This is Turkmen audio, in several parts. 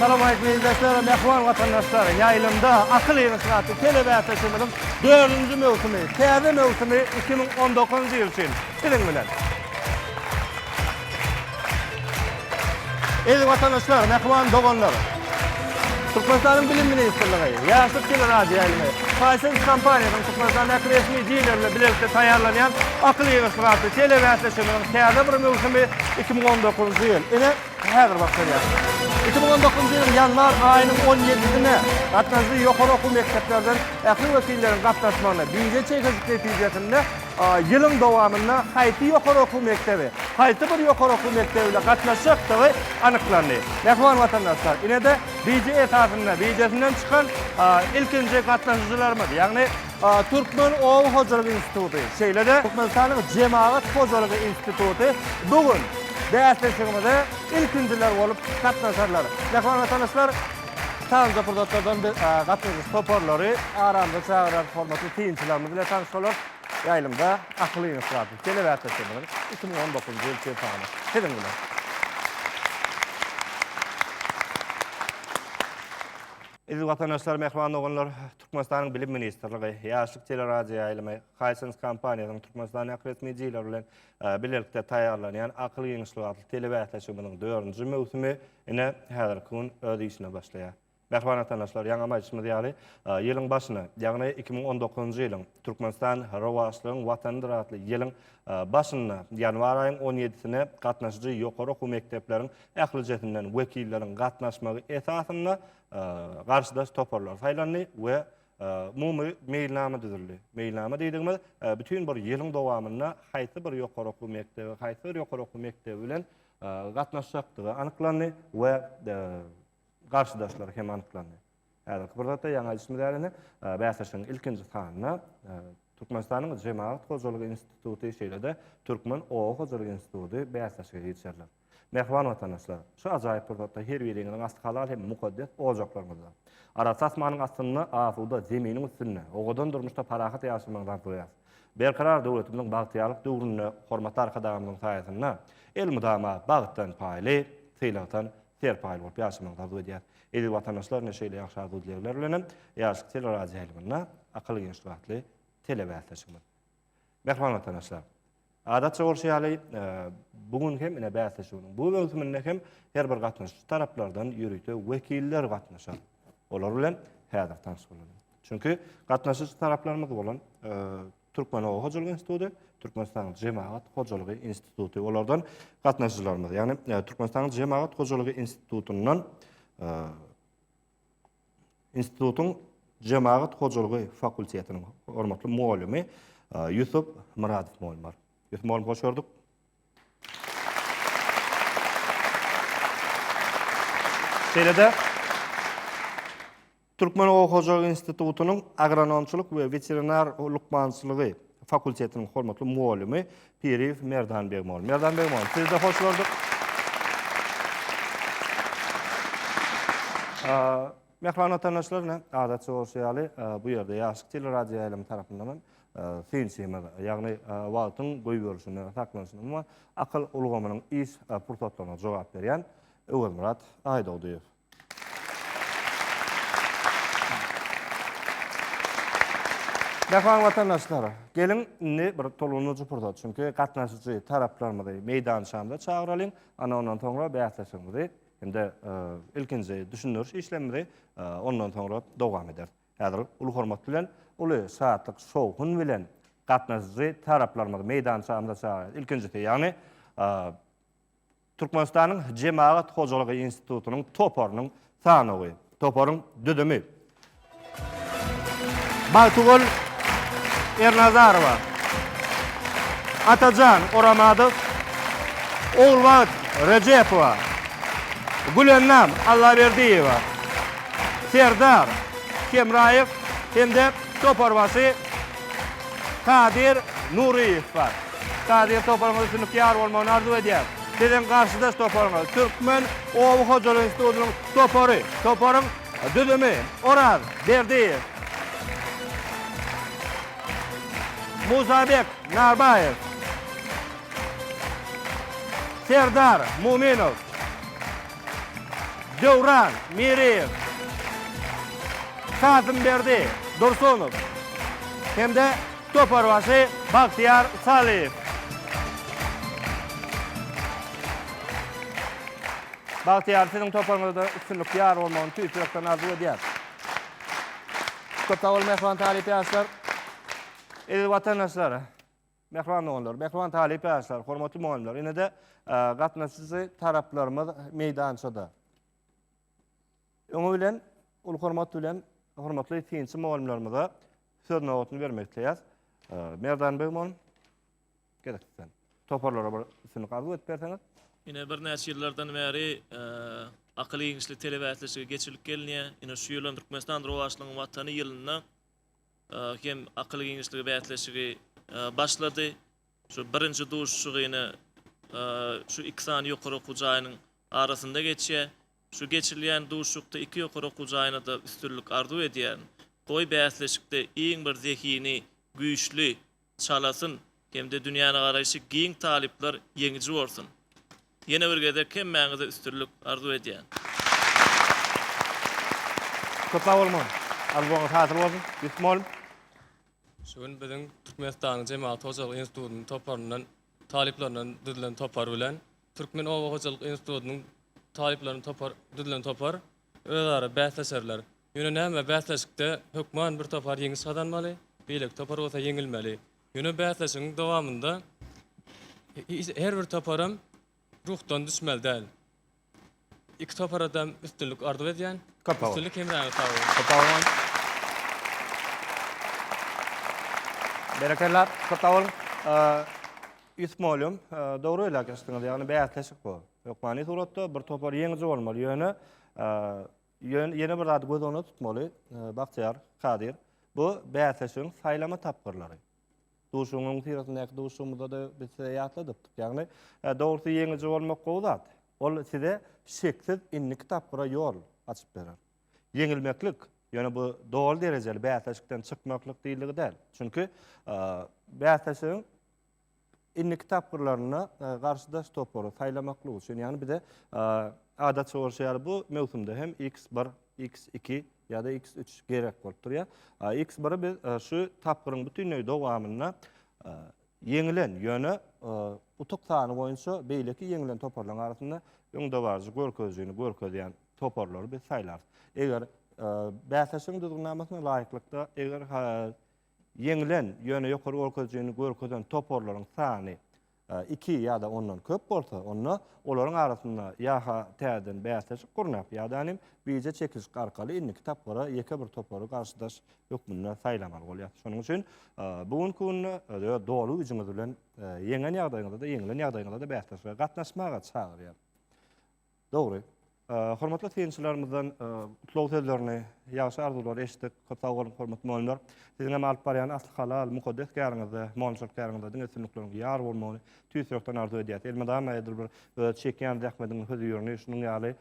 Assalamualeýkum eziz doslary, mähriban watandaşlar! Ýaýlymda akyl ýygnaşyk-atly telebäsleşigimiziň dördünji möwsümi, täze möwsümi iki müň on dokuzynjy ýyl üçin Siziň bilen. Eziz watandaşlar, mähriban doganlar! Türkmenistanyň Bilim ministrligi, Ýaşlyk teleradioýaýlymy, Hisense kompaniýasynyň Türkmenistandaky resmi dileri bilen bilelikde taýýarlanýan Akyl ýygyrtgy atly telebäsleşiginiň täze bir möwsümi iki müň on dokuzynjy ýyl, ine, häzir başlanýar. Iki müň on dokuzynjy ýylyň ýanwar aýynyň on ýedisinde gatnaşyjy ýokary okuw mekdeplerden ähli wekilleriň gatnaşmagynda, bije çekişik netijesinde, Ýylyň dowamynda haýsy ýokary okuw mekdebi haýsy bir ýokary okuw mekdebine gatnaşjakdygy anyklandy. Mähriban watandaşlar, ine-de bije esasynda bijesinden çykan ilkinji gatnaşyjylarymyz, ýagny Türkmen oba hojalyk instituty, şeýle-de Türkmenistanyň Jemagat hojalygy instituty bu gün bäsleşigimize ilkinjiler bolup gatnaşarlar. Mähriban watandaşlar! Taýyn deputatlardan bir gatnaşyjy toparlary aramyza çagyrar hormatly synçylarymyz bilen tanyşalar. Ýaýlymda akyl ýygnaşýardy. Telewähbetleriňiz iki müň on dokuzynjy ýyl çempiony siziň bilen. Eziz watandaşlar, mähriban doganlar, Türkmenistanyň Bilim ministrligi, Ýaşlyk teleradioýaýlymy, Hisense kompaniýasynyň Türkmenistandaky resmi dileri bilen bilelikde taýýarlanýan akyl ýygnaşlygy atly telebäsleşigimiziň dördünji möwsümi Ine, häzirki gün öz işine başlaýar. Mähriban watandaşlar, ýaňam aýdyşymyz ýaly, ýylyň başyny, ýagny iki müň on dokuzynjy ýylyň Türkmenistan rowaçlygyň Watanydyr atly ýylyň başynda, ýanwar aýyň on ýedisine gatnaşyjy ýokary okuw mekdepleriň ählijesinden wekilleriň gatnaşmagy esasynda garşydaş toparlar saýlandy we umumy meýilnama düzüldi. Meýilnama diýdigimiz, bütin bir ýylyň dowamynda haýsy bir ýokary okuw mekdebi, haýsy bir ýokary okuw mekdebi bilen gatnaşjakdygy anyklandy we garşydaşlary hem anyklandy. Häzirki bir zatda ýaňy aýdyşymyz ýaly indi bäsleşigiň ilkinji sanynda Türkmenistanyň Jemagat hojalygy instituty şeýle-de Türkmen oba hojalygy instituty bäsleşige girişerler. Mähriban watandaşlar, şu ajaýyp pursatda her biriňiziň asty halal hem mukaddes ojaklaryňyzda, arassa asmanyň astynda, asuda zeminiň üstünde, owadan durmuşda parahat ýaşamagyňyzy arzuwýarys. Berkarar döwletimiziň bagtyýarlyk döwründe Hormatly Arkadagymyzyň saýasynda elmydama bagtdan paýly, sylagdan serpaýly bolup ýaşamagy arzuw edýäris. Eziz watandaşlar, ine şeýle ýagşy arzuw-dilegler bilen hem Ýaşlyk teleradioýaýlymynda Akyl-Geňeşlik atly telebäsleşigimiz. Mähriban watandaşlar! Adatça bolşy ýaly, bu gün hem ine bäsleşiginiň bu möwsüminde hem her bir gatnaşyjy taraplardan ýörite wekiller gatnaşar. Olar bilen häzir tanyş bolalyň. Çünki gatnaşyjy taraplarymyz bolan Türkmen oba hojalyk instituty, Türkmenistanyň jemagat hojalygy instituty olardan gatnaşyjylarymyz, ýagny Türkmenistanyň jemagat hojalygy institutyndan institutyň jemagat hojalygy fakultetiniň hormatly mugallymy Ýusup Myradow mugallym bar. Ýusup mugallym hoş gördük. Şeýle-de Türkmen oba hojalygy institutynyň agronomçylyk we weterinar lukmançylygy fakultetiniň hormatly mugallymy Piriýew Merdan Begmol. Merdan Begmol, sizi-de hoş gördük. Mähriban watandaşlar, ine, adatça bolşy ýaly, bu ýerde Ýaşyk teleradioýaýlymy tarapyndan hem synçymyz, ýagny wagtyň goýberilişine saklanyşyny we akyl ulgamynyň iş pursatlaryna jogap berýän Öwezmyrat Aýdogdyýew. Jahan watandaşlary, geliň indi bir tolguny jupurda, çünki gatnaşyjy taraplarymyzy meýdançamyza çagyralyň, ana ondan soňra bäsleşigimizi hem-de ilkinji düşündiriş işlemimizi ondan soňra dowam ederis. Häzir uly hormat bilen, uly şatlyk, şowhun bilen gatnaşyjy taraplarymyzy meýdançamyza çagyrýarys. Ilkinjisi, ýagny Türkmenistanyň Jemagat hojalygy institutynyň toparynyň sanawy, toparyň düzümi. Bagtygül Ernazarowa, Atajan Oramadow, Ogulbagt Rejepowa, Gülennam Allaberdiýewa, Serdar Hemraýew hem-de toparbaşy Kadir Nuryýew bar. Kadyr toparyňyz üçin ykýar bolmagyny arzuw edýäris. Siziň garşydaş toparyňyz, Türkmen oba hojalyk institutynyň topary. Toparyň düzümi, Oraz Berdiýew, Musabek Narbaýew, Serdar Muminow, Döwran Miriýew, Kasymberdi Dursunow hem-de Toparbaşy Bagtyýar Salyýew. Bagtyýar siziň toparyňyzda üstünlik ýar bolmagyny tüýs ýürekden arzuw edýäris. Köp sag boluň mähriban talyp ýaşlar. Eziz watandaşlar, mähriban doganlar, mähriban talyp ýaşlar, hormatly mugallymlar. Ine-de gatnaşyjy taraplarymyz meýdançada. Öňi bilen uly hormat bilen hormatly synçy mugallymlarymyza söz nobatyny bermek isleýäs. Merdan Beg mugallym, gerek sizden. Toparlara bir üstünlik arzuw edip berseňiz. Ine birnäçe ýyllardan bäri akyl-giňişlik telebäsleşigi geçirilip gelinýär. Ine şu ýylam Türkmenistan rowaçlygyň Watany ýylynda hem akyl-giňişlik bäsleşigi başlady. Şu birinji duşuşygy ine şu iki sany ýokary okuw jaýynyň arasynda geçýär. Şu geçirilýän duşuşykda iki ýokary okuw jaýyna-da üstünlik arzuw edýärin. Goý bäsleşikde iň bir zehini, güýçli, çalasyn hem-de dünýänegaraýşy giň talyplar ýeňiji bolsun. Ýene bir gezek hemmäňize üstünlik arzuw edýän. Köp sag boluň mugallym. Arzuwyňyz hasyl bolsun. Ýusuf mugallym. Şu gün biziň Türkmenistanyň Jemagat hojalyk institutynyň toparyndan, talyplaryndan düzülen topar bilen Türkmen oba hojalyk institutynyň talyplaryny topar düzlen topar özara bäsleşerler. Ýöne näme bäsleşikde hökman bir topar ýeňiş gazanmaly, beýleki topar bolsa ýeňilmeli. Ýöne bäsleşigiň dowamynda her bir toparam ruhdan düşmeli däl. Iki toparadam üstünlik arzuw edýän. Köp sag bol. Üstünlik hemraňyz sag bolun. Köp sag boluň. Berekella, köp sag boluň. Ýusup mugallym, dogry belläp geçdiňiz. Ýagny bäsleşik bu. Hökmany suratda bir topar ýeňiji bolmaly. Ýöne ýene bir zady göz öňünde tutmaly, Bagtyýar, Kadyr. Bu bäsleşigiň saýlama tapgyrlary. Duşuňyň syratyndäki duşumyzda-da biz size ýatladypdyk. Ýagny, dogrusy ýeňiji bolmak gowy zat. Ol size şeksiz indiki tapgyra ýol açyp berer. Ýeňilmeklik, ýöne bu doly derejeli bäsleşikden çykmaklyk diýildigi däl. Çünki, bäsleşigiň indiki tapgyrlarynda garşydaş topary saýlamaklyk üçin, ýagny bize adatça bolşy ýaly bu möwsümde hem X bir, X iki ýa-da x üç gerek bolup durýar. X biri biz e, şu tapgyryň bütünleý dowamynda e, ýeňilen, ýöne e, utuk sany boýunça beýleki ýeňilen toparlaryň arasynda öňdebaryjy görkezijini görkezýän toparlary biz saýlarys. Eger bäsleşigiň düzgünnamasyna laýyklykda, eger ýeňilen, ýöne ýokary görkezijini görkezen toparlaryň sany iki ýa-da ondan köp bolsa, onda olaryň arasynda ýa-ha täzeden bäsleşik gurnap, ýa-da nim bije çekilişik arkaly indiki tapgyra ýeke bir topary garşydaş hökmünde saýlamaly bolýar. Şonuň üçin bu günki günde öz doly güýjüňiz bilen ýeňen ýagdaýyňyzda-da, ýeňilen ýagdaýyňyzda-da bäsleşige gatnaşmaga çagyrýar. Dogry. Hormatly synçylarymyzdan gutlag sözlerini, ýagşy arzuwlary eşitdik. Köp sag boluň, hormatly mugallymlar. Siziň hem alyp barýan asly halal, mukaddes käriňizde, mugallymçylyk käriňizde diňe üstünlikleriň ýar bolmagyny tüýs ýürekden arzuw edýäs. Elmydama edil bir öz çekýän zähmediňiz hözirini şunuň ýaly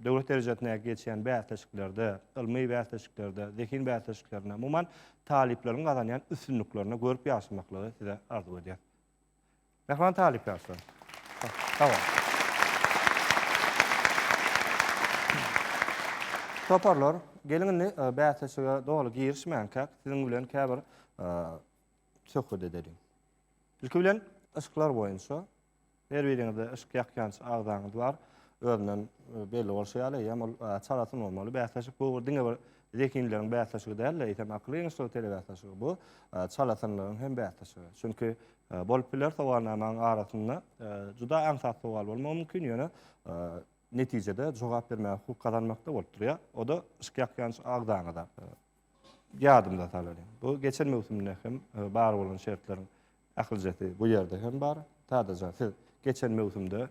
döwlet derejesindäki geçýän bäsleşiklerde, ylmy bäsleşiklerde, zehin bäsleşiklerinde, umuman, talyplaryň gazanýan üstünliklerinde görüp ýaşamaklygy size arzuw edýäs. Mähriban talyp ýaşlar. Sag boluň. Toparlar, geliň indi bäsleşige doly girişmänkäk, siziň bilen käbir söhbet edeliň. Ilki bilen, yşklar boýunça. Her biriňizde yşk ýakýanç agzaňyz bar. Özünden belli bolşy ýaly, eýýäm ol çalasyn bolmaly. Bäsleşik bu diňe bir Zehinleriň bäsleşigi däl-de, eýsem, akyl ýygynyşlygy telebäsleşigi bu, çalasynlygyň hem bäsleşigi. Çünki bolup biler, sowalnamaň arasynda juda aňsat sowal bolmagy mümkin, ýöne netijede jogap bermäge hukuk gazanmakda bolup durýar. O-da yşk ýakýan agzaňyza. Ýadymda salyň, bu geçen möwsümde hem bar bolan şertleriň Akyljasy bu ýerde hem bar. Sadaja siz geçen möwsümde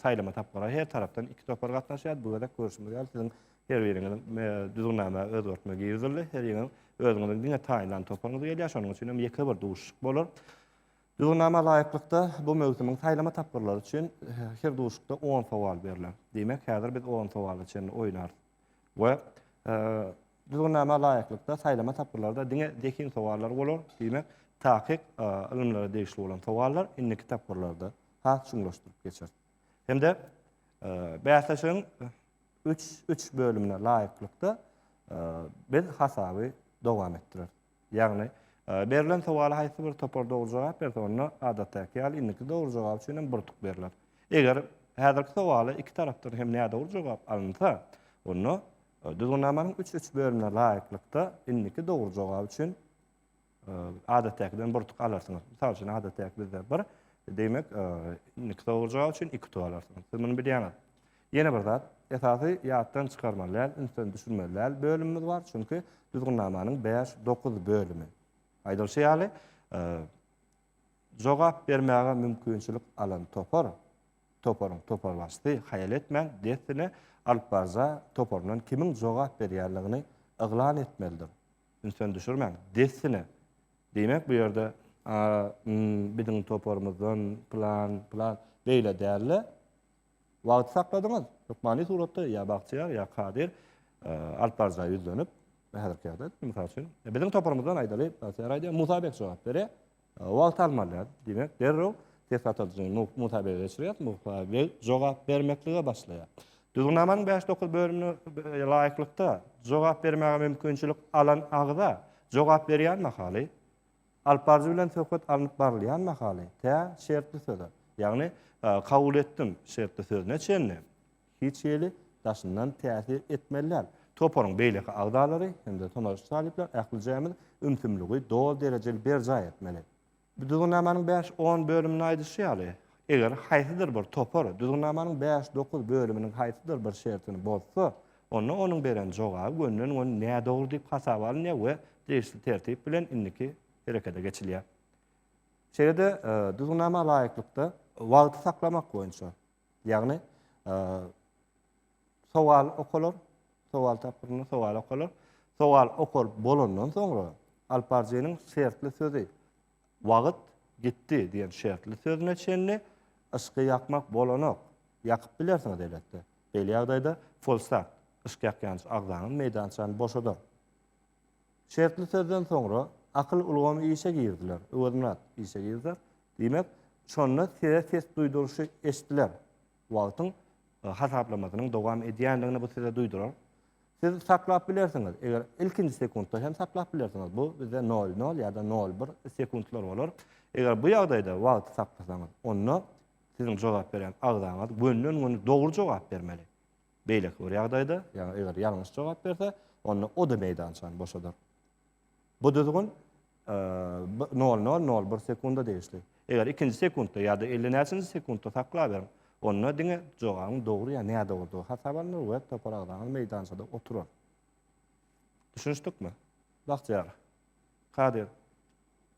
saýlama tapgyra her tarapdan iki topar gatnaşýardy. Bu gezek görşümiz ýaly siziň her biriňiziň düzgünnama özgertme girizildi. Her ýeriň özüňiziň diňe taýynlan toparyňyz gelýär. Şonuň üçin hem ýeke bir duşuşyk bolar. Düzgünnama laýyklykda bu möwsümiň saýlama tapgyrlary üçin her duşuşykda 10 sowal berler. Diýmek, häzir biz 10 sowala çenli oýnarys. We Düzgünnama laýyklykda saýlama tapgyrlarda diňe zehin sowallary bolar, diýmek, takyk ylymlara degişli bolan sowallar indiki tapgyrlarda has çuňlaşdyryp geçer. Hem-de bäsleşigiň üç üç bölümine laýyklykda biz hasaby dowam etdireris. Ýagny, berlen sowala haýsy bir topar dogry jogap berse, onda, adatdaky ýaly, indiki dogry jogap üçin hem bir tuk berler. Eger häzirki sowala iki tarapdan hem nädogry jogap alynsa, onda Düzgünnamanyň üç üç bölümine laýyklykda indiki dogry jogap üçin adatdakiden bir tuk alarsyňyz. Mysal üçin, adatdaky bizde bir, demek, indiki dogry jogap üçin iki tuk alarsyňyz. Siz muny bilýäňiz. Ýene bir zat, esasy ýatdan çykarmaly däl, ünsden düşürmeli däl bölümimiz bar, çünki Düzgünnamanyň bäş, dokuz bölümi. Aýdylyşy ýaly, jogap bermäge mümkinçilik alan topar, toparyň toparbaşysy haýal etmän, dessine alyp barja toparyndan kimiň jogap berýänligini yglan etmelidir. Ünsden düşürmäň, dessine. Diýmek, bu ýerde biziň toparymyzdan pylan, pylan, beýle däl-de, Wagty sakladyňyz. Hökmany suratda ýa Bagtyýar ýa Kadyr alyp barjaga ýüzlenip, häzirki ýagdaýda, mysal üçin, biziň toparymyzdan aýdaly, Bagtyýar aýdýar, Musa beg jogap berýär. Wagt almalyar, diýmek, derrew test atyjyny Musa bege geçirýär, Musa beg jogap bermeklige başlaýar. Düzgünnamanyň bäş-dokuz bölümine laýyklykda jogap bermäge mümkinçilik alan agza jogap berýän mahaly, Alypbaryjy bilen söhbet alnyp barylýan mahaly tä şertli söze, ýagny kabul etdim şertli sözüne çenli hiç hili daşyndan täsir etmeli däl. Toparyň beýleki agzalary hem-de tomaşaçy talyplar ählijämiz ümsümligi doly derejeli berjaý etmeli. Düzgünnamanyň bäş, on bölüminde aýdyşy ýaly, eger haýsydyr bir topar Düzgünnamanyň bäş, dokuz bölüminiň haýsydyr bir şertini bozsa, onda onuň beren jogaby gönden-gön nädogry diýip hasaba alynýar we degişli tertip bilen indiki herekete geçilýär. Şeýle-de Düzgünnama laýyklykda wagty saklamak boýunça, ýagny sowal okalar, sowal tapgyrynda sowal okalar, sowal okalyp bolandan soňra alyp baryjynyň şertli sözi, Wagt gitdi diýen şertli sözüne çenli yşky ýakmak bolanok. Ýakyp bilersiňiz elbetde. Beýle ýagdaýda folsagt, yşk ýakýanç agzanyň meýdançany boşadar. Şertli sözden soňra akyl ulgamy işe girdiler, Öwezmyrat, işe girdiler. Diýmek, şonda size ses duýduryşy eşdiler. Wagtyň hasaplamasynyň dowam edýändigini bu size duýdurar. Siz saklap bilersiňiz. Eger ilkinji sekuntda hem saklap bilersiňiz. Bu bizde 00 ýa-da 01 sekuntlar bolar. Eger bu ýagdaýda wagty saklasaňyz, onda siziň jogap berýän agzaňyz gönden-göni dogry jogap bermeli. Beýleki bir ýagdaýda, ýagny eger ýalňyş jogap berse, onda o-da meýdançany boşadar. Bu düzgün nol nol nol bir sekunda degişli. Eger ikinji sekundda ýa-da elli näçenji sekundda saklaberiň, onda diňe jogabyň dogry ýa nädogrudygy hasaba alnar we topar agzaňyz meýdançada oturar. Düşünişdikmi? Bagtyýar. Kadyr.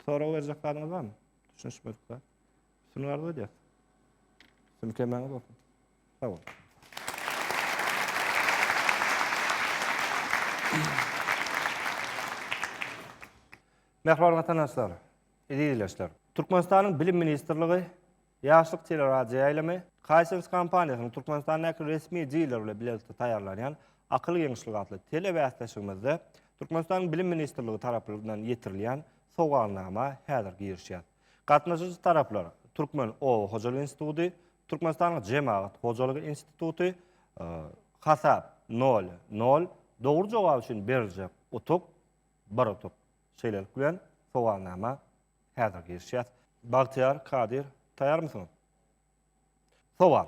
Sorag berjek zadyňyz barmy? Düşünişmedik zat. Üstünlik arzuw edýäs. Üstünlik hemmäňe bolsun. Sag bol. Mähriban watandaşlar, eziz ildeşler! Türkmenistanyň Bilim ministrligi Ýaşlyk teleradioýaýlymy Hisense kompaniýasynyň Türkmenistandäki resmi diler bilen bilelikde taýýarlanýan Akyl giňişligi atly telebäsleşigimizde Türkmenistanyň Bilim ministrligi tarapyndan ýetirilýän sowalnama häzir girişýär. Gatnaşyjy taraplar, Türkmen oba hojalyk instituty, Türkmenistanyň Jemagat hojalygy instituty, Hasap, nol, nol, Dogry jogap üçin beriljek utuk, bir utuk. Şeýlelik bilen, sowalnama häzir girişýär. Bagtyýar, Kadyr, taýýarmysyňyz? Sowal.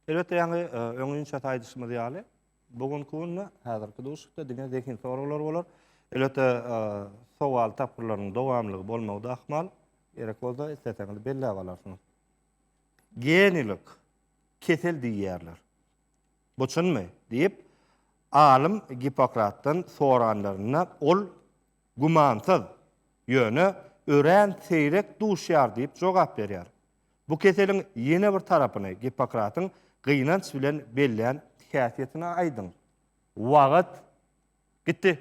Elbetde ýaňy öňinçä aýdyşymyz ýaly, bu günki günde häzirki duşuşykda diňe zehin soraglar bolar. Elbetde sowal tapgyrlarynyň dowamlygy bolmagy da ahmal. Gerek bolsa isleseňiz belläp alarsyňyz. Genilik kesel diýýärler. Bu çynmy? diýip, alym Gippokratdan soranlarynda ol Gümansyz, ýöne örän seýrek duşýar diýip jogap berýär. Bu keseliň ýene bir tarapyny Gippokratyň gynanç bilen bellän häsiýetini aýdyň. Wagt gitdi.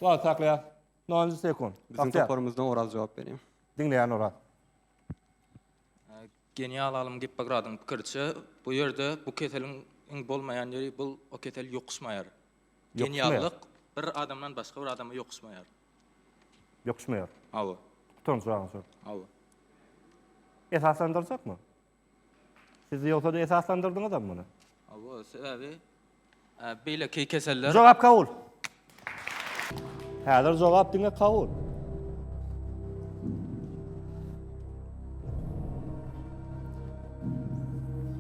Wagty saklaýas. Nol-njy sekunt. Biziň toparymyzdan Oraz jogap berýär. Diňleýän Oraz. Genial alym Gippokradyň pikiriçe, bu ýerde bu keseliň iň bolmaýan ýeri, bul o kesel ýokuşmaýar. Geniallyk bir adamdan başga bir adama ýokuşmaýar. Ýokuşmaýar. Hawa. Utanç baryň üçin. Hawa. Esaslandyrjakmy? Siz ýogsa-da esaslandyrdyňyzam muny. Hawa, sebäbi Beýleki keseller. Jogap kabul. Häzir jogap diňe kabul.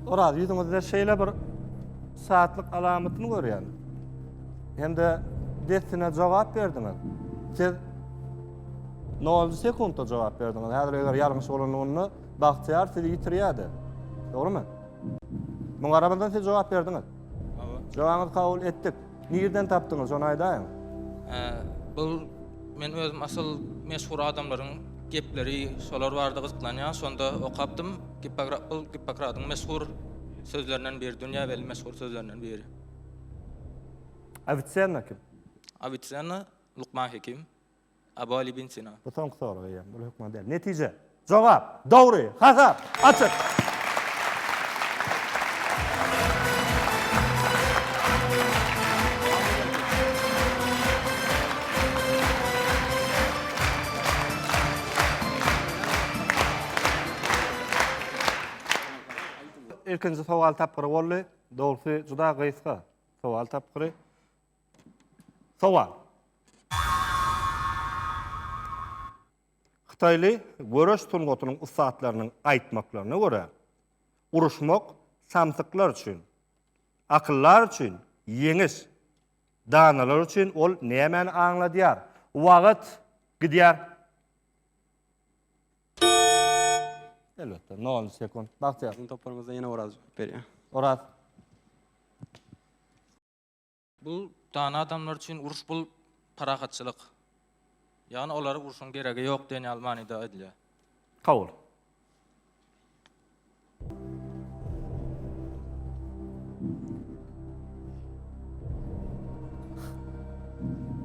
Oraz ýüzüňizde şeýle bir saatlyk alamatyny görýän. Hem-de dessine jogap berdiňiz. Siz 0 sekuntda jogap berdiňiz. Häzir eger ýalňyş bolanlygynda Bagtyýar sizi ýitirýärdi. Dogrymy? Muňa garamazdan siz jogap berdiňiz. Jogaňyzy kabul etdik. Nirden tapdyňyz, şony aýdaýyň? Bul men özüm asyl meşhur adamlaryň gepleri şolar barada gyzyklanýan, şonda okapdym. Gippokrat bul Gippokradyň meşhur sözlerinden biri, dünýä belli meşhur sözlerinden biri. Awitsenna kim? Awitsenna Lukman Hekim. Abu-Ali bin Sina. Bu soňky sorag eýýäm, bul hökman däl. Netije. Jogap. Dogry. Hasap. Açyk. Ilkinji sowal tapgyry boldy. Dogrusy juda gysga sowal tapgyry. Sowal. Hytaýly göreş sungatynyň ussatlarynyň aýtmaklaryna görä, uruşmak samsyklar üçin, akyldar üçin ýeňiş, danalar üçin ol nämäni aňladýar? Wagt gidýär. Elbetde, nol sekunt. Bagtyýar. Siziň toparyňyzdan ýene Oraz jogap berýär. Oraz. Bu dana adamlar üçin uruş bul parahatçylyk. Ýagny olara urşuň geregi ýok diýen ýaly manyda aýdylýar. Kabul.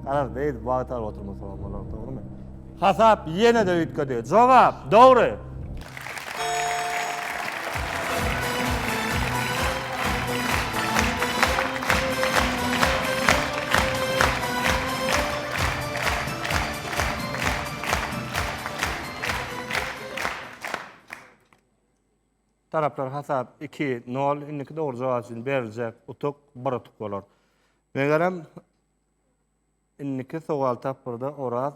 Garaz, beýdip wagt alyp oturmasalar bolar, dogrumy? Hasap ýene-de üýtgedi. Jogap, dogry! Taraplar hasap iki, nol. Indiki dogry jogap üçin beriljek utuk bir utuk bolar. Megerem, Indiki sowal tapgyrda Oraz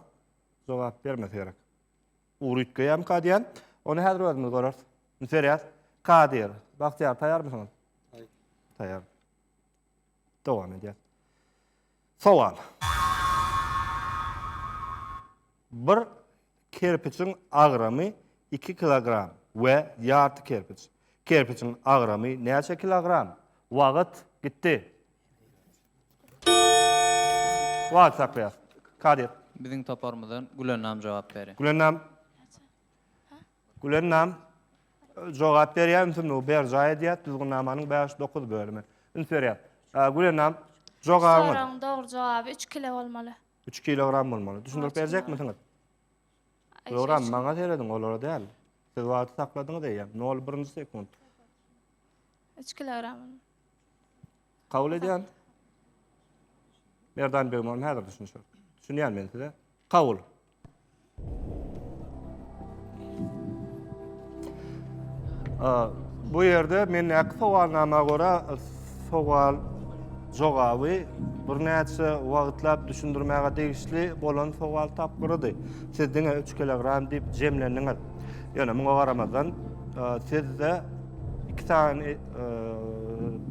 jogap bermese gerek. Ugur üýtgeýärmika diýýän. Ony häzir özümiz göreris. Üýtgerýäs. Kadyr, Bagtyýar taýýarmysyňyz? Taýýar. Taýýar. Dowam edýäs. Sowal. Bir Kerpiçiň agramy iki kilogram we ýarty kerpiç. Kerpiçiň agramy näçe kilogram? Wagt gitdi. Wagt saklaýas. Kadir. Biziň toparymyzdan Gülennam jogap berin. Gülennam. Gülennam jogap berýär, ümsümligi berjaý edýär, düzgünnamanyň bäş, dokuz bölümi üns berýär. Gülennam, jogabyňyz? Soragyň dogry jogaby üç kilo bolmaly. 3 kilogram bolmaly. Düşündirip berjekmisiňiz? Ýogram, maňa seredin, olara däl. Siz wagty sakladyňyz eýýäm. 01-nji sekund. 3 kilogram. Kabul edýän. Merdan Begmon häzir düşünşür. Düşünýän men size. Kabul. Bu ýerde men näki sowalnama görä sowal jogaby birnäçe wagtlap düşündirmäge degişli bolan sowal tapgyrydy. Siz diňe 3 kilogram diýip jemlendiňiz. Ýöne muňa garamazdan sizde iki sany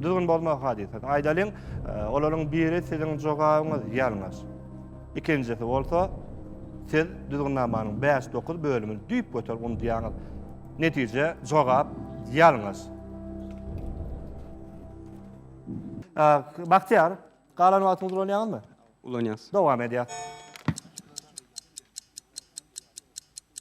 düzgün bozmak hadysasy. Aýdalyň, olaryň biri siziň jogabyňyz ýalňyş. Ikinjisi bolsa, siz düzgünnamanyň bäş-dokuz bölümini düýpgöter unudýaňyz. Netije, jogap ýalňyş. Bagtyýar, galan wagtyňyzy ulanýaňyzmy? Ulanýas. Dowam edýäs.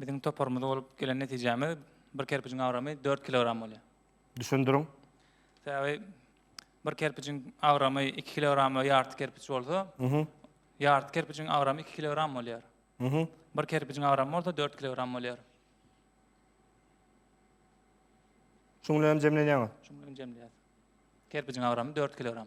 Biziň toparymyzda bolup gelen netijämiz bir kerpijiň agramy 4 kilogram bolýar. Düşündiriň. Sebäbi bir kerpijiň agramy 2 kilograma ýarty kerpiç bolsa, ýarty kerpijiň agramy 2 kilogram bolýar. Bir kerpijiň agramy bolsa 4 kilogram bolýar. Şuň bilen hem jemlenýäňiz? Şuň bilen hem jemleýäris. Kerpijiň agramy 4 kilogram.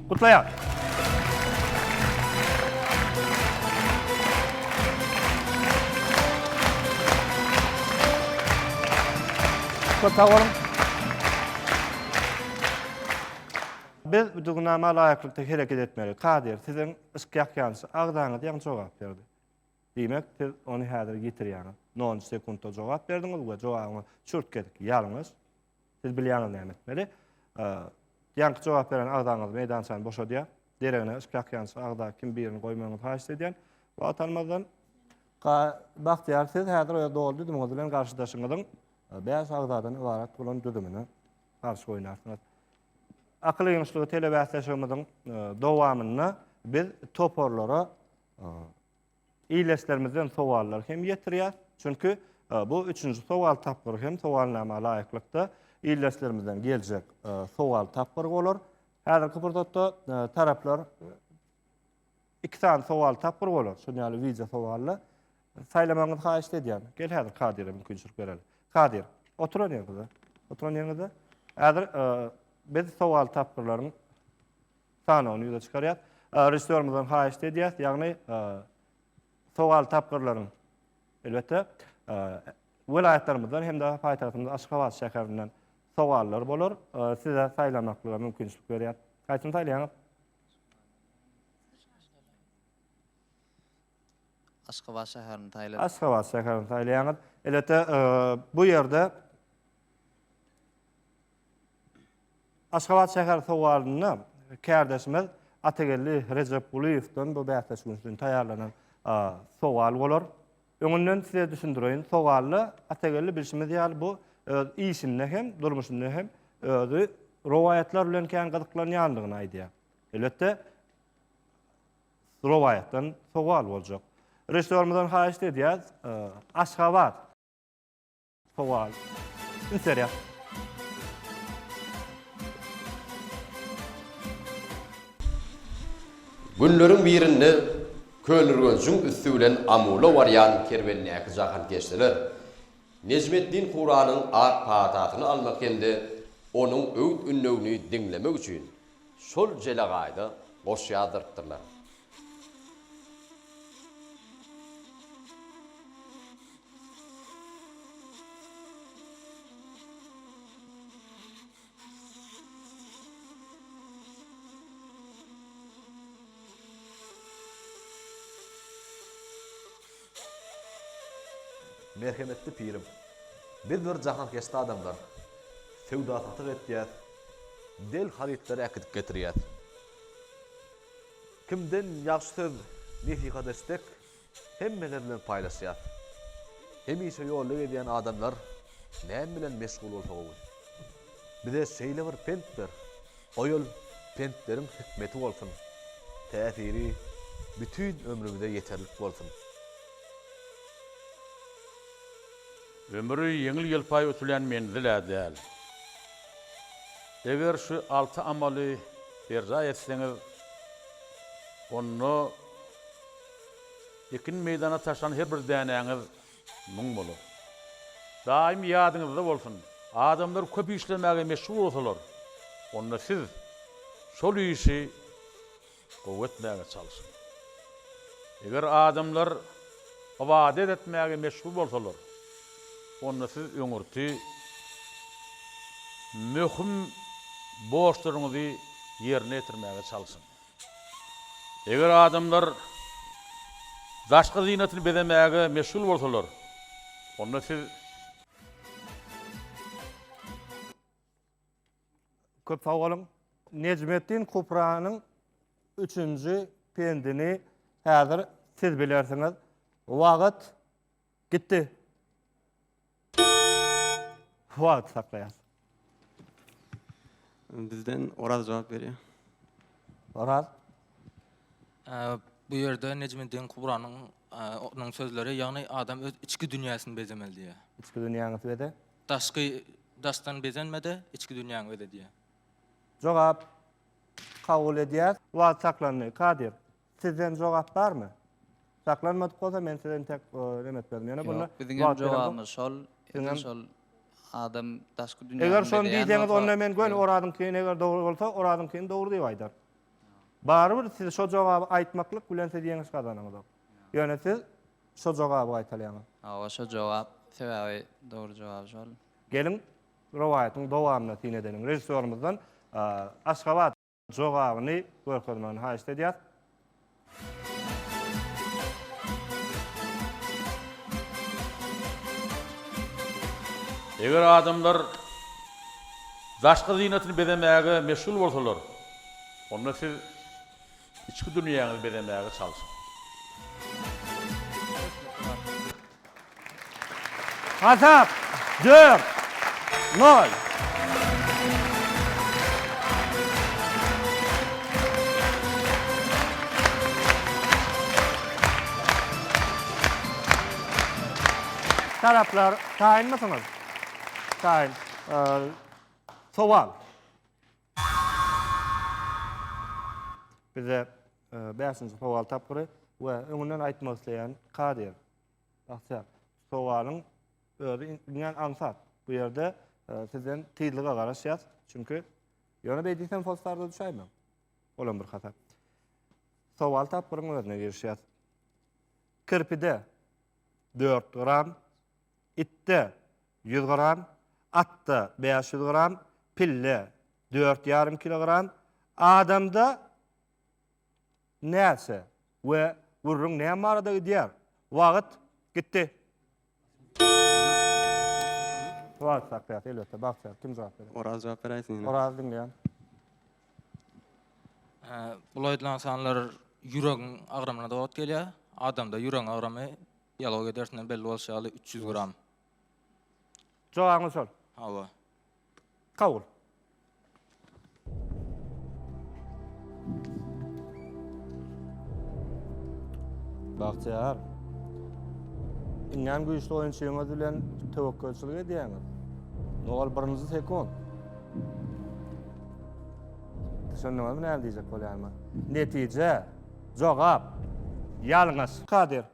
Gutlaýar. Köp sag boluň. Biz düzgünnama laýyklykda hereket etmeli. Kadir, siziň yşk ýakýançy agzaňyz ýaňy jogap berdi. Diýmek, siz ony häzir ýitirýäňiz. Nol-njy sekuntda jogap berdiňiz we jogabyňyz çürt gezek ýalňyş. Siz bilýäňiz näme etmeli. Ýaňky jogap beren agzaňyz meýdançany boşadýar. Deregine üç ýançy agza kim birini goýmagyňyzy haýyş edýän. Wagt almazdan Bagtyýar siz häzir öz doly düzümiňiz bilen garşydaşyňyzyň e, bäş agzadan ybarat bolan düzümini garşy oýnarsyňyz. Akyl ýygynyşlygy telebäsleşigimiziň e, dowamynda biz toparlara e, Ildeşlerimizden sowallar hem ýetirýär. Çünki bu üçünji sowal tapgyry hem sowalnama laýyklykda ildeşlerimizden geljek sowal tapgyry bolar. Häzirki pursatda taraplar iki sany sowal tapgyry bolar. Şol ýaly wideo sowally saýlamagyňyzy haýyşt edýän. Gel häzir Kadire mümkinçilik bereli. Kadir, oturan ýeriňizde. Oturan ýeriňizde. Häzir biz sowal tapgyrlaryň sanawyny ýüze çykarýas. Režissýorymyzdan haýyşt edýäs, ýagny sowal tapgyrlaryň elbetde welaýatlarymyzdan hem-de paýtagtymyz Aşgabat şäherinden sowallar bolar. Size saýlamaklyga mümkinçilik berýär. Haýsyny saýlaýaňyz? Aşgabat şäherini saýladyk. Aşgabat şäherini saýlaýaňyz. Elbetde, bu ýerde Aşgabat şäher sowalynda kärdeşimiz Atageldi Rejepgulyýewden bu bäsleşik üçin taýýarlanan sowal bolar. Öňünden size düşündireýin, sowalda Atageldi bilşimiz ýaly bu öz işinde hem, durmuşynda hem özi rowaýatlar bilen kän gyzyklanýandygyny aýdýar. Elbetde, rowaýatdan sowal boljak. Režissýorymyzdan haýyşt edýäs, Aşgabat. Sowal. Üns berýär. Günleriň birinde Köneürgenjiň üsti bilen Amula barýan kerwendäki jahankeşdeler Nejmeddin Kuranyň ak patasyny almak hem-de onuň öwüt-ündewini diňlemek üçin Şol jelegaýda goşy ýazdyrypdyrlar. Merhemetli pirim! Biz bir jahankeşde adamlar. Söwda-satyk etýäs. Del harytlary äkidip getirýär. Kimden ýagşy söz, nesihat eşsek, hemmeler bilen paýlaşýar. Hemişe ýolda gezýän adamlar näme bilen meşgul bolsa gowy? Bize şeýle bir pent ber, o ýol pentleriň hikmeti bolsun, täsiri bütin ömrümize ýeterlik bolsun. Ömri ýeňil-ýelpaý ötülen menzil-ä däl. Eger şu alty amaly berjaý etseňiz, onda ekin meýdana taşlan her bir dänäňiz müň bolar. Daýym ýadyňyzda bolsun, adamlar köp işlemäge meşgul bolsalar, onda siz şol işi. Gowy etmäge çalyşyň. Eger adamlar ybadat etmäge meşgul bolsalar, onda siz öňürti möhüm borçlaryňyzy ýerine ýetirmäge çalyşyň. Eger adamlar daşky zynatyny bezemäge meşgul bolsalar, onda siz. Köp sag boluň. Nejmetdin Kupranyň üçünji pendini häzir siz bilersiňiz. Wagt gitdi. Wagt saklaýas. Bizden Oraz jogap berýär. Oraz. Bu ýerde Nejmetdin Kubranyň onuň sözleri, ýagny adam öz içki dünýäsini bezemeli diýýär. Içki dünýäňi beze. Daşky daşdan bezenme-de, içki dünýäňi öz edýär. Jogap, Kabul edýäs. Wagt saklandy. Kadir, sizden jogap barmy? Saklanmadyk bolsa, men size intek nem etmezdim. Ýöne bunda wagt beremzok. Ýok, biziň hem jogabymyz şol. Edil şol adam daşky dünýäňi bezeýär. Eger şony diýseňiz, onda men göni Orazyňkyny eger dogry bolsa, Orazyňkyny dogry diýip aýdaryn. Barybir siz şo jogaby aýtmaklyk bilen siz ýeňiş gazanyňyzok. Ýöne siz şo jogaby gaýtalýaňyz. Hawa şo jogap, sebäbi dogry jogaby şol. Geliň rowaýatyň dowamyna syn edeliň. Režissýorymyzdan Aşgabat jogabyny görkezmegini haýyşt edýäs. Eger adamlar daşky zynatyny bezemäge meşgul bolsalar, onda siz Içki dünýäňizi bezemäge çalşyň. Hasap, dört, nol. Taraplar, taýynmysyňyz? Taýyn. Sowal. Bize bäşinji sowal tapgyry we öňünden aýtmak isleýän kadir. Bagtyýar, sowalyň özi iňňän aňsat. Bu ýerde sizden tyzlyga garaşýas, çünki ýöne beý diýsem hossarda düşäýmäň. Olam bir hasap. Sowal tapgyryň özüne girişýäs. Kirpide dört gram Itde, ýüz gram, atda, bäş ýüz gram, pille, dört ýarym kilogram, adamda näçe we gürrüň näme barada gidýär? Wagt, gitdi. Wagt akýar, elbetde, Bagtyýar. Kim jogap berer? Oraz jogap beräýsin ýene. Oraz, diňleýän. Bulaýdylan sanlar ýüregiň agramyna dowat gelýär. Adamda ýüregiň agramy Biologiýa dersinden belli bolşy ýaly üç ýüz gram. Jogabyňyz şol. Hawa. Kabul. Bagtyýar. Iňňän güýçli oýunçyňyz bilen töwekgelçilik edýäňiz. Nowal birinji sekund. Düşündiňizmi näme diýjek bolýanyma? Netije, jogap, ýalňyş. Kadir.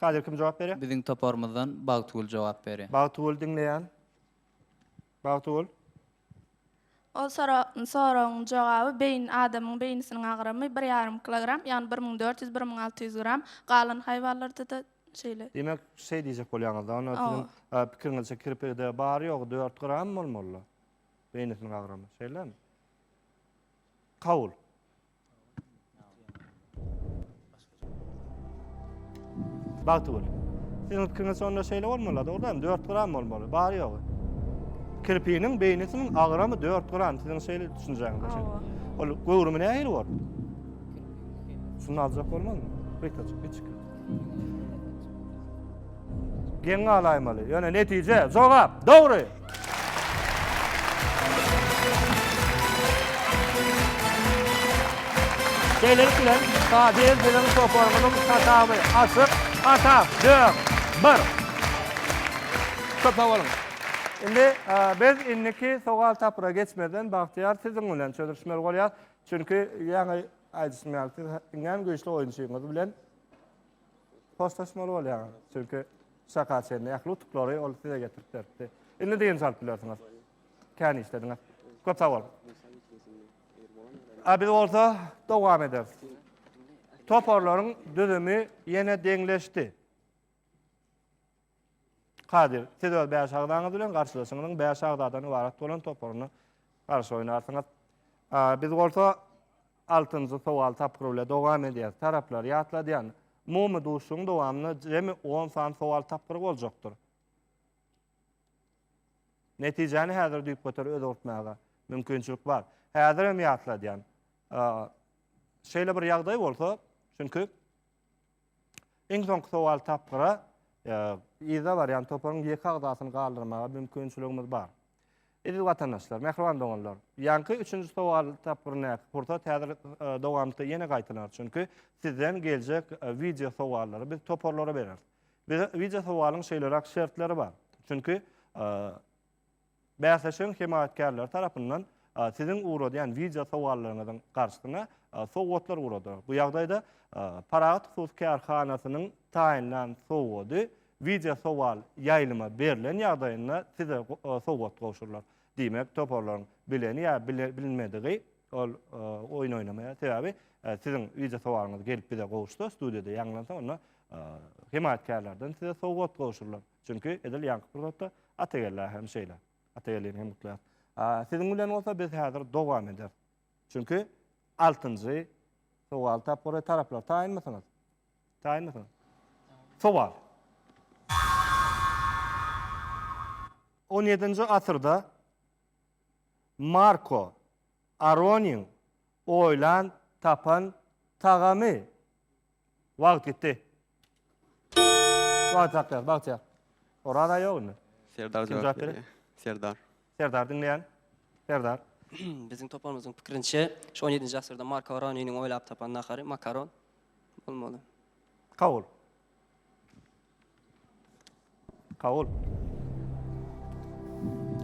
Kadir kim jogap berýär? Biziň toparymyzdan Bagtygül jogap berýär. Bagtygül diňleýän. Bagtygül. Ol soragyň jogaby beýin adamyň beýnisiniň agramy bir ýarym kilogram ýagny bir müň dört ýüz bir müň alty ýüz gram galan haýwanlardada şeýle. Diýmek şeý diýjek bolýaňyzda onda siziň pikiriňizçe kirpide bary ýogy dört gram bolmalyda beýnisiniň agramy şeýlemi? Kabul. Bagty bol. Siziň pikiriňiz şonda şeýle bolmaly, dogrudanam 4 gram bolmaly, bary ýogy. Kirpiniň beýnisiniň agramy 4 gram, siziň şeýle düşünjäňiz üçin. Ol göwrümi nähili bor? Şunu aljak bolmazmy? Riktaçyk, geçik. Geň galaýmaly. Ýöne netije, jogap, dogry. Şeýlelik bilen, Kadyr biziň toparymyzyň saçawy açyk, atak, dört, bir. Köp sag boluň. Indi biz indiki sowal tapyra geçmezden Bagtyýar siziň bilen çözüşmeli bolýas. Çünki ýaňy aýdyşym ýaly siz iňňän güýçli oýunçyňyz bilen Hoşlaşmaly bolýaň. Çünki şaka çenli ähli utuklary ol size getirip beripdi. Indi dynç alyp bilersiňiz. Kän işlediňiz. Köp sag boluň. A biz bolsa dowam ederis. Toparlaryň düzümi ýene deňleşdi. Kadyr, siz öz bäş agzaňyz bilen garşydaşyňyzyň bäş agzadan ybarat bolan toparyna garşy oýnarsyňyz. Biz bolsa altynjy sowal tapgyry bilen dowam edýäris. Taraplar, ýatladýan, umumy duşuşygyň dowamynda jemi on sany sowal tapgyry boljakdyr. Netijäni häzir düýpgöter özgertmäge mümkinçilik bar. Häzir hem ýatladýan, şeýle bir ýagdaý bolsa, çünki Iň soňky sowal tapgyra yza barýan toparyň ýeke agzasyny galdyrmaga mümkinçiligimiz bar. Eziz watandaşlar, mähriban doganlar, ýaňky üçünji sowal tapgyryndaky pursat häzir dowamlykda ýene gaýtalar. Çünki sizden geljek wideo sowallary biz toparlara bereris. Bize wideo sowalyň şeýleräk şertleri bar. Çünki Bäsleşigiň hemaýatkärleri tarapyndan Siziň ugradýan wideo sowallaryňyzyň garşysyna sowgatlar ugradylar. Bu ýagdaýda Parahat hususy kärhanasynyň taýynlan sowgady wideo sowal ýaýlyma berlen ýagdaýynda Size sowgat gowşurylar. Diýmek, toparlaryň bileni ýa bilinmedigi ol oýun oýnamaýar. Sebäbi Siziň wideo sowalyňyz gelip bize gowuşsa, studiýada ýaňlansa onda hemaýatkärlerden Size sowgat gowşurylar. Çünki edil ýaňky pursatda Atagelä hem şeýle. Atagelini hem gutlaýarys. Siziň bilen bolsa biz häzir dowam ederis. Çünki altynjy sowal tapgyry taraplar taýynmysyňyz? Taýynmysyňyz? Sowal. On ýedinji asyrda Marko Aronyň oýlan tapan tagamy Wagt gitdi. Wagt hakda, wagt ýa. Oraz aý ýok indi. Serdar Kim jogap jogap berýär? berýär. Serdar. Serdar diňleýän. Serdar. Biziň toparymyzyň pikirinçe, şu on ýedinji asyrda Marko Roniniň oýlap tapan nahary makaron bolmaly. Kabul. Kabul.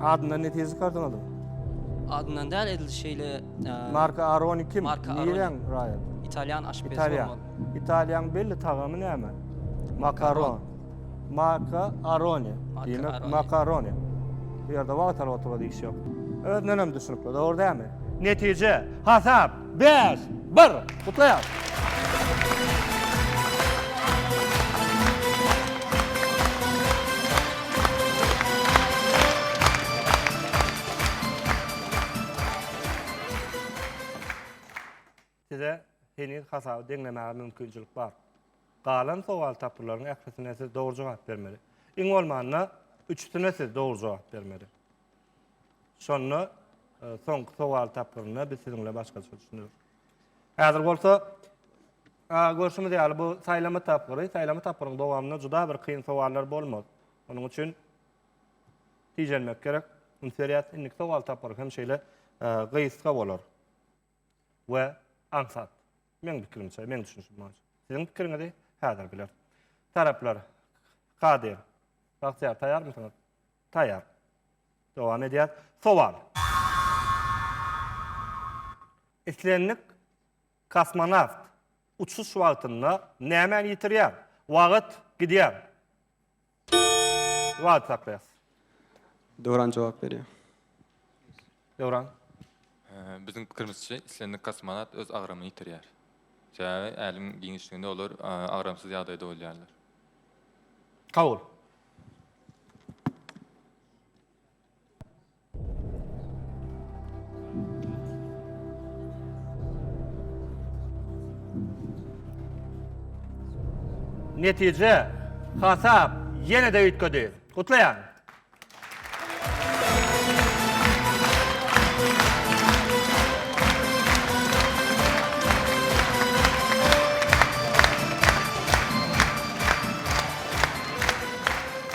Adyndan netije çykardyňyzmy? Adyndan däl edil şeýle Marka Aroni kim? Marka Aroni. Nirän raýat? Italýan aşpezi Italýan. bolmaly. Italýan belli tagamy näme? Makaron. Marka Aroni. Marka Diýmek Aroni. makaroni. Bu ýerde wagtal oturyp iş ýok. Özünden hem düşünikli, dogry dälmi? Netije, hasap. Bäş. Bir. Gutlaýarys. Size heniz hasaby deňlemäge mümkinçilik bar. Galan sowal tapgyrylaryň ählisine siz dogry jogap bermeli. Iň bolmanda üçüsine siz dogry jogap bermeli. Şonda soňky sowal tapgyrynda biz siziň bilen başgaça düşüneris. Häzir bolsa görşümiz ýaly bu saýlama tapgyry, saýlama tapgyryň dowamynda juda bir kyn sowallar bolmaz. Onuň üçin tijenmek gerek. Üns berýäs, indiki sowal tapgyry hem şeýle gysga bolar. We aňsat. Meň pikirimçe, meň düşünişim boýunça. Siziň pikiriňizi häzir biler. Taraplar, Kadyr, Bagtyýar taýýarmysyňyz? Taýýar. Dowam edýäs. Sowal. Islendik kosmonawt uçuş wagtynda nämäni ýitirýär? Wagt gidýär. Wagt saklaýas. Döwran jogap berýär. Döwran. Biziň pikirimizçe, islendik kosmonawt öz agramyny ýitirýär. Sebäbi älemiň giňişliginde olar agramsyz ýagdaýda bolýarlar. Kabul. Netije hasap ýene-de üýtgedi. Gutlaýan.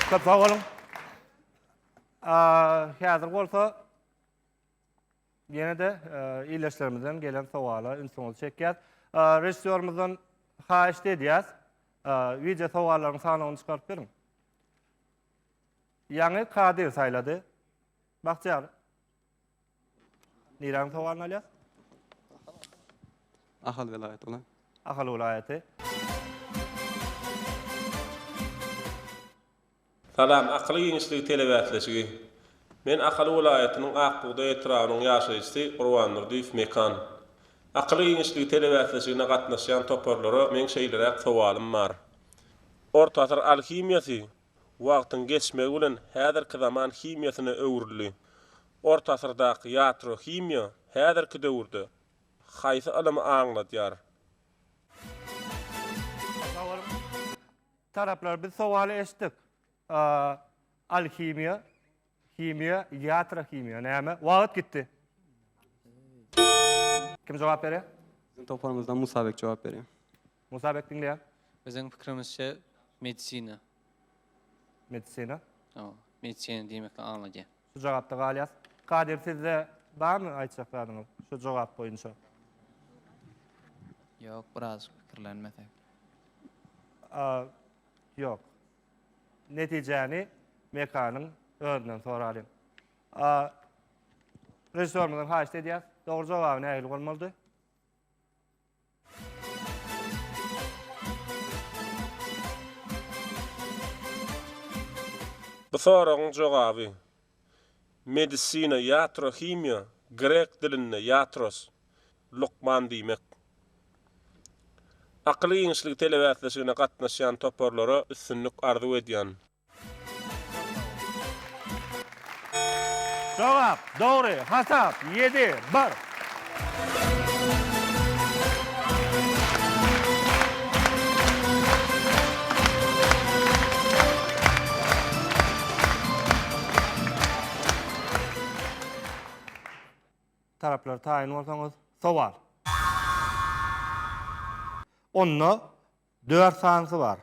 Köp sag boluň. Häzir bolsa ýene-de ildeşlerimizden gelen sowala ünsüňizi çekýäs. Režissýorymyzdan haýyşt edýäs, wideo sowallaryň sanawyny çykaryp beriň. Ýaňy Kadyr saýlady. Bagtyýar. Niräniň sowalyny alýas? Ahal welaýaty bolan. Ahal welaýaty. Salam, Akyl giňişligi telebäsleşigi. Men Ahal welaýatynyň Ak bugdaý etrabynyň ýaşaýjysy Gurbandurdyýew Mekan. Akyl giňişligi telebäsleşigine gatnaşýan toparlara meň şeýleräk sowalym bar. Orta asyr alhimiýasy wagtyň geçmegi bilen häzirki zaman himiýasyna öwrüldi. Orta asyrdaky ýatro-himiýa häzirki döwürde haýsy ylymy aňladýar? Taraplar biz sowaly eşitdik. A. Alhimiýa. Himiýa, ýatra himiýa näme? Wagyt gitdi. Kim jogap berýär? Biziň toparymyzdan Musa beg jogap berýär. Musa beg diňleýän. Biziň pikirimizçe medisina. Medisina? Hawa, medisina diýmekden aňladýar. Şu jogapda galýas. Kadir sizde barmy aýtjak zadyňyz şu jogap boýunça? Ýok, birazajyk pikirlenmesek. Ýok. Netijäni Mekanyň özünden soralyň. A. Režissýorymyzdan haýyşt edýäs. Dogry jogaby nähili bolmalydy? Bu soragyň jogaby, Medisina, iatrohimiýa, grek dilinde, iatros, lukman diýmek. Akyl giňişligi telebäsleşigine gatnaşýan toparlara üstünlik arzuw edýän. Jogap, Dogry hasap, ýedi, bir. Taraplar taýyn bolsaňyz, sowal. Onda dört sanysy bar.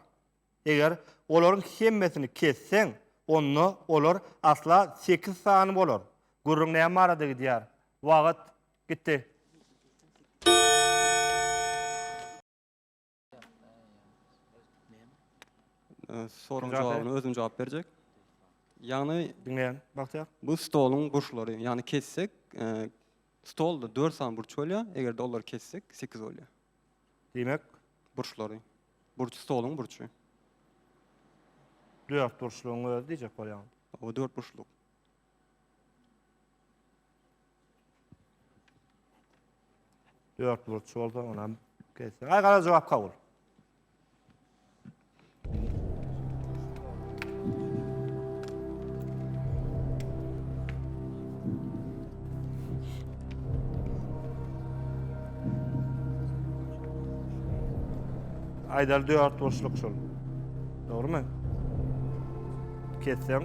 Eger olaryň hemmesini kesseň, onda olar asla sekiz sany bolar. Gürrüň näme barada gidýär? Wagt gitdi. Soragyň jogabyna özüm jogap berjek. Ýagny diňleýän Bagtyýar. Bu stoluň burçlary, ýagny kessek, stolda 4 sany burç bolýar, eger-de olary kessek 8 bolýar. Diýmek, burçlary. Burç stoluň burçy. 4 burçlugyň özi diýjek bolýaň. O 4 burçluk. Dört burç olsa onam kesin. Ay kara cevap kabul. Aydar dört burçluk şol. Doğru mu? Kesseň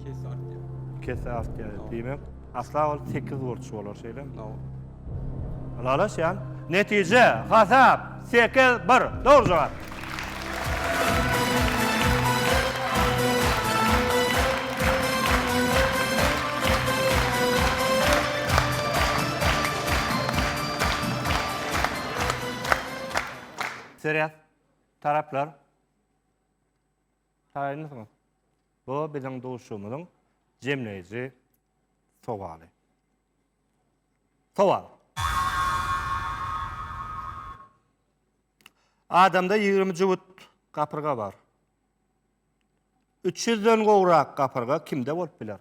Kes artýar. kese artýar. Diýmek, asla ol 8 burç bolar şeýle. Hawa. Ylalaşýan. Netije, hasap 8-1. Dogry jogap. Seryas taraplar Taýynmysyňyz? Bu biziň duşuşygymyzyň jemleýji sowaly. Sowal. Adamda ýigrimi jübüt gapyrga bar. Üç ýüzden gowrak gapyrga kimde bolup biler?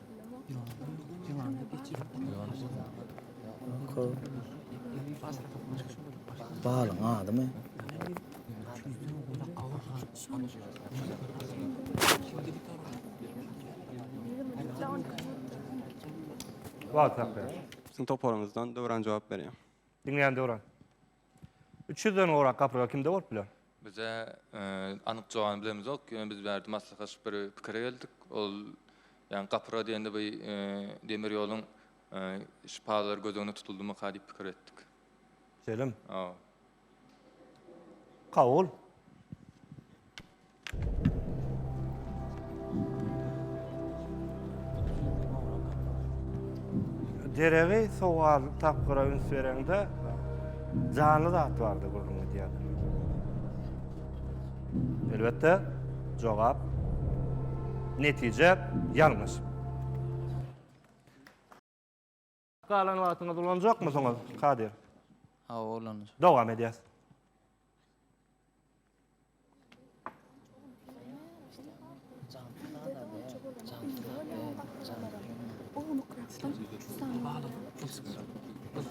Balyň adymy? Wagtap ber. Siziň toparyňyzdan Döwran jogap berýär. Diňleýän Döwran. Üç ýüzden gowrak gapyrga kimde bolup biler? Bize anyk jogabyny bilemizok. Ýöne biz bärde maslahaşyp bir pikire geldik. Ol ýagny gapyrga diýende bu demir ýoluň şypalary göz öňüne tutuldymyka diýip pikir etdik. Şeýlemi? Hawa. Kabul. Deregi sowal tapgyra üns bereňde janly zat bardy gürrüň edýärdi. Elbetde jogap netije ýalňyş. Galan wagtyňyzy ulanjakmysyňyz, Kadyr? Hawa, ulanjak. Dowam edýäs.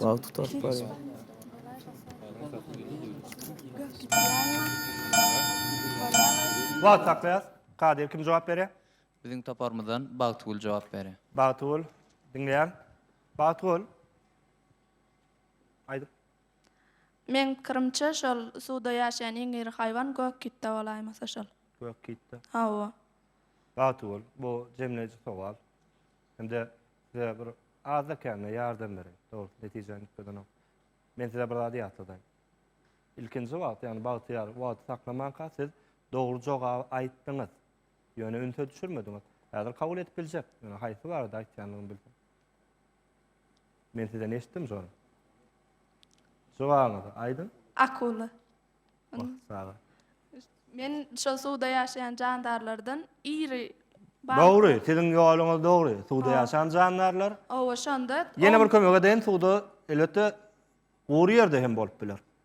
Wagt tutup barýar. Wagt saklaýas. Kadyr kim jogap berýär? Biziň toparymyzdan Bagtygül jogap bery. Bagtygül, diňleýän. Bagtygül. Aýdyp. Meň pikirimçe şol suwda ýaşaýan iň iri haýwan gök kitda bolaýmasa şol. Gök kitda. Hawa. Bagtygül, bu jemleýji sowal. Hem-de size bir azda kände ýardam bereýin. Dogry, netijä gitmedenok. Men size bir zady ýatladaýyn. Ilkinji wagt, ýagny bagtyýar wagty saklamanka siz dogry jogaby aýtdyňyz. Ýöne ünse düşürmediňiz. Häzir kabul edip biljek. Ýöne haýsy barada aýtýandygyny bilsem. Men sizden eşitdim şony. Jogabyňyzy aýdyň. Akula. Wah, sag bol. Men şol suwda ýaşaýan jandarlardan iri balyk. Dogry, siziň ýoluňyz dogry. Suwda ýaşan jandarlar. Oba, şonda. Ýene bir kömek edeýin, suwda elbetde gury ýerde hem bolup biler.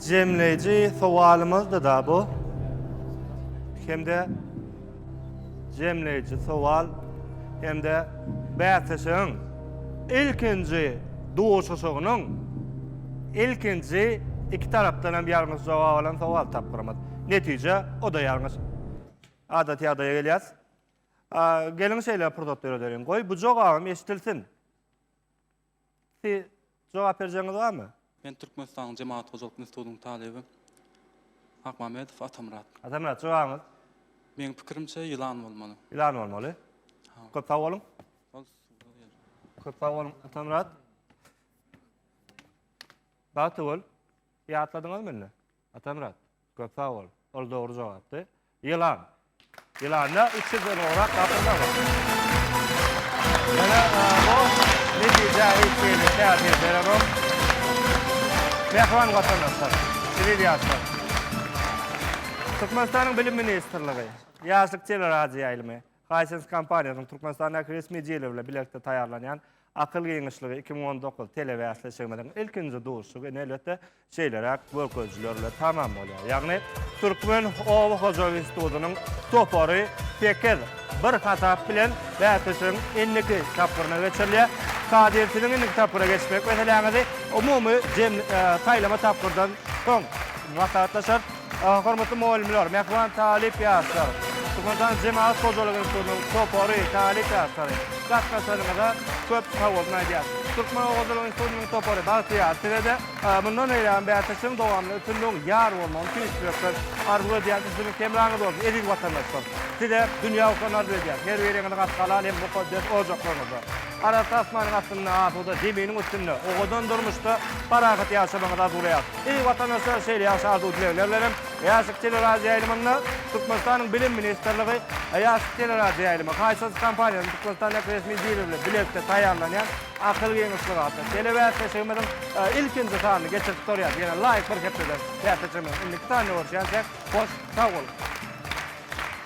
Jemleýji sowalymyzdy-da bu. Hem-de jemleýji sowal hem-de bäsleşigiň ilkinji duşuşygynyň ilkinji iki tarapdan hem ýalňyş jogap alan sowal tapgyrymyz. Netije o-da ýalňyş. Adaty ýagdaýa gelýäs. Geliň şeýle pursat döredeliň. Goý, bu jogabym eşidilsin. Siz jogap berjegiňiz barmy? Men Türkmenistanyň Jemagat hojalyk institutynyň talyby Akmamedow Atamyrat. Atamyrat, jogabyňyz? Meň pikirimçe ýylan bolmaly. Ýylan bolmaly. Köp sag boluň. Köp sag boluň Atamyrat. Bagtygül, ýatladyňyzmy indi? Atamyrat, köp sag bol. Ol dogry jogapdy. Ýylan. Ýylanda üç ýüzden gowrak gapyrma bar. Ýöne bu netijä hiç hili täsir berenok. Mähriban watandaşlar, eziz ýaşlar! Türkmenistanyň Bilim ministrligi, Ýaşlyk teleradioýaýlymy, Hisense kompaniýasynyň Türkmenistandaky resmi jili bilen bilelikde taýýarlanýan Akyl giňişligi iki müň on dokuz telebäsleşigimiziň ilkinji duşuşygy indi elbetde şeýleräk görkezijiler bilen tamam bolýar. Ýagny Türkmen oba hojalyk institutynyň topary sekiz, bir hasap bilen bäsleşigiň indiki tapgyryna geçirilýär. Kadir siziň indiki tapgyra geçmek meseläňizi umumy saýlama tapgyrdan soň maslahatlaşarys. Hormatly mugallymlar, mähriban talyp ýaşlar, Türkmenistan Jemagat hojalyk institutynyň topary, talyp ýaşlary, gatnaşanyňyza köp sagboluň aýdýarys. Türkmen oba hojalyk institutynyň topary Bagtyýar, size-de mundan beýlägem bäsdeşligiň dowamynda üstünligiň ýar bolmagyny tüýs ýürekden arzuw edýäris. Üstünlik hemraňyz bolsun, eziz watandaşlar! Size dünýä hoşlaryny arzuw edýäris, her biriňiziň gaty halal hem mukaddes ojaklaryňyzda! Arassa asmanyň astynda, asuda zeminiň üstünde, owadan durmuşda parahat ýaşamagyňyzy arzuwlaýarys. Eý, watandaşlar, şeýle ýagşy arzuw-dilegler bilen hem, Ýaşyk teleradioýaýlymynda Türkmenistanyň Bilim ministrligi we Ýaşyk teleradioýaýlymy Haýsy kompaniýanyň Türkmenistandaky resmi dili bilen bilelikde taýýarlanýan Akyl giňişligi atly telebäsleşigimiziň ilkinji sanyny geçirip gutarýarys. Ýene laýyk bir hepdeden bäsleşigimiziň indiki sanyna görüşýänçäk, hoş sag boluň!